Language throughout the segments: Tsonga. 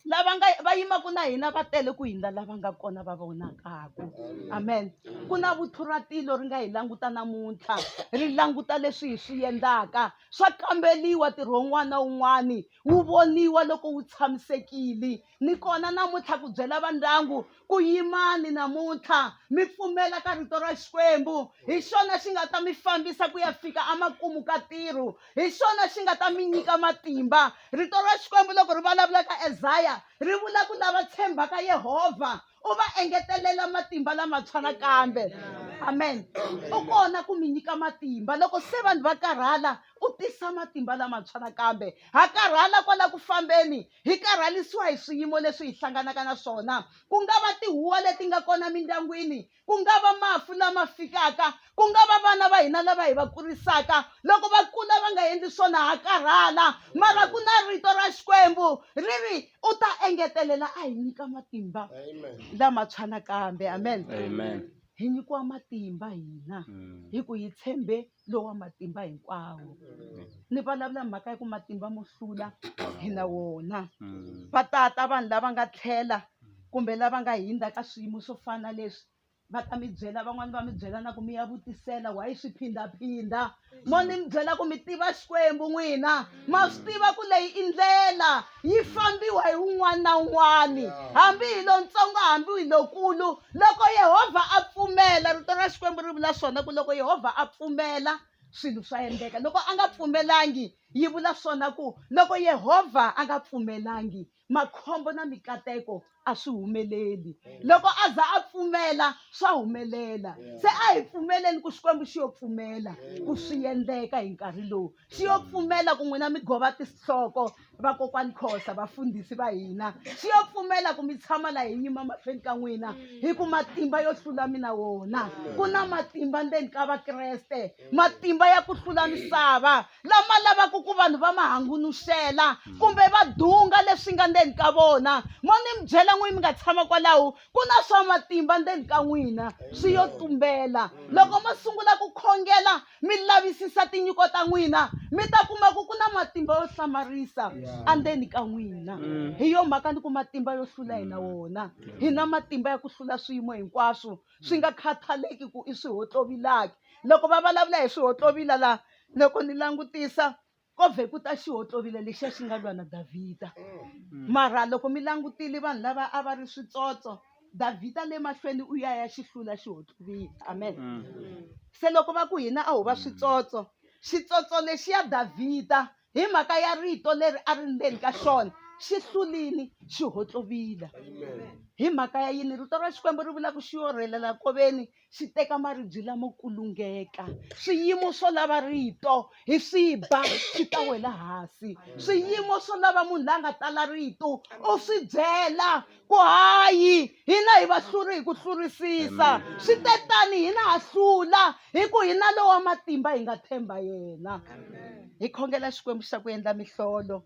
lava nga va yimaka na hina va tele ku hindza lava nga kona va vonakaka amen ku na vuthu ra tilo ri nga hi languta namuntlha ri languta leswi hi swi endlaka swa kambeliwa ntirho wun'wana na wun'wani wu voniwa loko wu tshamisekile ni kona namuntlha ku byela vandyangu ku yimani namuntlha mi pfumela ka rito ra xikwembu hi xona xi nga ta mi fambisa ku ya fika emakumu ka ntirho hi xona xi nga ta mi nyika matimba rito ra xikwembu loko ri vulavula ka ezaya ri vula ku lava tshembaka yehovha u va engetelela matimba lamatshwa nakambe amen u kona ku mi nyika matimba loko se vanhu va karhala u tisa matimba lamatshwa nakambe ha karhala kwala ku fambeni Hi karhalisiwa hi swiyimo leswi hi hlanganaka na swona, ku nga va tihuwa leti nga kona mindyangwini, ku nga va mafu lama fikaka, ku nga va vana va hina lava hi va kurisaka loko va kula va nga endli swona ha karhala. Mara ku na rito ra Xikwembu ri ri, u ta engetelela a hi nyika matimba lamatshwa nakambe. Amen. Amen. Hi nyikiwa matimba hina mm. hi ku hi tshembe lowa matimba hinkwawo ni vulavula hi mhaka ya ku matimba mo hlula hi na wona va tata vanhu lava nga tlhela kumbe lava nga hundza ka swiyimo swo fana leswi va ta mi byela van'wani va mi byela na ku mi ya vutisela why swi phindaphinda mo ni mi byela ku mi tiva xikwembu n'wina ma swi tiva ku leyi i ndlela yi fambiwa hi un'wana na un'wana hambi hi lontsongo hambi hi lokulu loko yehovha a pfumela rito ra xikwembu ri vula swona ku loko yehovha a pfumela swilo swa endleka loko a nga pfumelangi yi vula swona ku loko yehovha a nga pfumelangi makhombo na mikateko a swi humeleli loko a za a pfumela swa humelela se a hi pfumeleni ku xikwembu xi yo pfumela ku swi endleka hi nkarhi lowu xi yo pfumela ku n'wina mi gova tinhloko vakokwani khosa vafundhisi va hina xi yo pfumela ku mi tshama la hi nyima mahlweni ka n'wina hi ku matimba yo hlula mina wona ku na matimba ndzeni ka vakreste matimba ya ku hlula misava lama lavaka ku vanhu va ma hangunuxela hmm. kumbe va dunga leswi nga ndzeni ka vona mo ni mi byela n'wini mi nga tshama kwalaho ku na swa matimba ndzeni ka n'wina swi yo tumbela hmm. loko mo sungula ku khongela mi lavisisa tinyiko ta n'wina mi ta kuma ku ku na matimba yo hlamarisa andzeni ka n'wina hmm. hi yo mhaka ni ku matimba yo hlula hina wona hi na matimba ya ku hlula swiyimo hinkwaswo swi nga khathaleki ku i swihotlovilaki loko va vulavula hi swihotlovila la loko ni langutisa ko vhe ku ta xihotlovila lexiya xi nga lwa na davhida mm. mara loko mi langutile vanhu lava a va ri switsotso davhida le mahlweni u ya ya xi hlula xihotlovila amen mm. se loko va ku hina a ho va switsotso xitsotso lexiya davhida hi mhaka ya rito leri a ri ndzeni ka xona xi hlulini xi hotlovila hi mhaka ya yini rito ra xikwembu ri vula ku xi orhelela koveni xi teka maribye lamo kulungeka swiyimo swo lava rito hi swi ba swi ta wela hansi swiyimo swo lava munhu la nga tala rito u swi byela ku hayi hina hi vahluri hi ku hlurisisa swi te tani hina ha hlula hi ku hi na lowa matimba hi nga tshemba yena hi khongela xikwembu xa ku endla mihlolo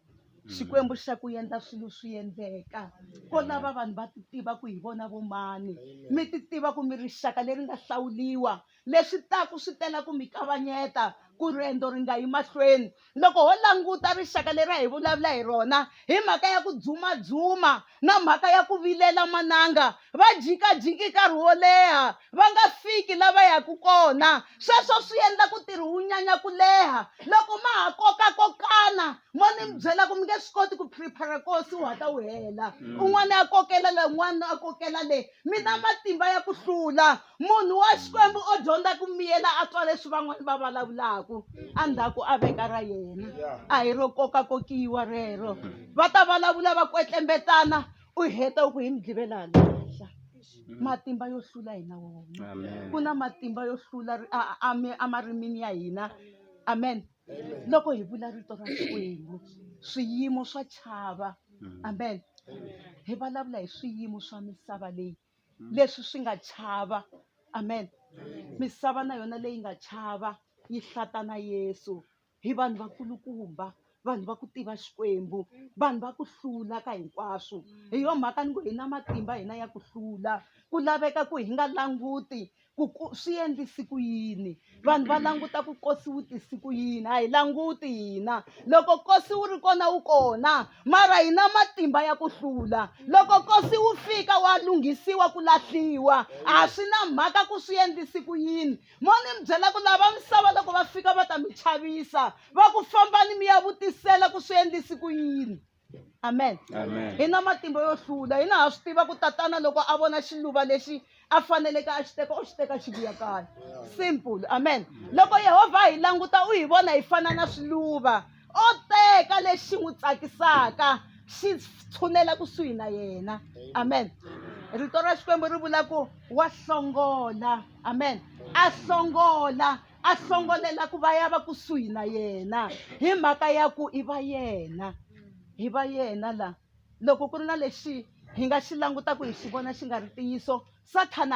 xikwembu xa ku endla swilo swi endleka ko lava vanhu va ti tiva ku hi vona vomani mi ti tiva ku mi rixaka leri nga hlawuliwa Leswi taku swi tela ku mi kavanyeta ku riendzo ri nga yi mahlweni. Loko ho languta rixaka leri a hi vulavula hi rona hi mhaka ya ku dzumadzuma na mhaka ya ku vilela mananga, va jikajiki nkarhi wo leha va nga fiki la va yaka kona. Sweswo swi endla ku ntirho wu nyanya ku leha. Loko ma ha kokakokana mo ni mi byela ku mi nge swi koti ku prepare-a nkosi wu hatla wu hela, un'wana a kokela le un'wana a kokela le, mi na matimba ya ku hlula munhu wa xikwembu o dyondza ku miyela a twa leswi van'wana va vulavulaka endzhaku a veka ra yena a hi ro kokakokiwa rero va ta vulavula va kwetlembetana u heta u ku hi mi dlivela lahla matimba yo hlula hina wona ku na matimba yo hlula emarimini ya hina amen loko hi vula rito ra xikwembu swiyimo swa chava mm. amen hi vulavula hi swiyimo swa misava leyi mm. leswi swi nga chava amen misava na yona leyi nga chava yi hlata na yesu hi vanhu vakulukumba vanhu va ku tiva xikwembu vanhu va ku hlula ka hinkwaswo hi yo mhaka ni ku hi na matimba hina ya ku hlula ku laveka ku hi nga languti ku ku swi endlise ku yini vanhu va languta ku kosi wu tisi ku yini a hi languti hina loko kosi wu ri kona wu kona mara hi na matimba ya ku hlula loko kosi wu fika wa lunghisiwa ku lahliwa a swi na mhaka ku swi endlise ku yini mo ni mi byela ku lava misava loko va fika va ta mi chavisa va ku fambani mi ya vutisela ku swi endlise ku yini amen hi na matimba yo hlula hina ha swi tiva ku tatana loko a vona xiluva lexi a faneleke a xi teka u xi teka xi vuya kaya simple amen loko yehovha hi languta u hi vona hi fana na swiluva o teka lexi n'wi tsakisaka xi tshunela kusuhi na yena amen rito ra xikwembu ri vula ku wa hlongola amen a hlongola a hlongolela ku va ya va kusuhi na yena hi mhaka ya ku i va yena hi va yena la loko ku ri na lexi hi nga xi langutaka hi xi vona xi nga ri ntiyiso sathana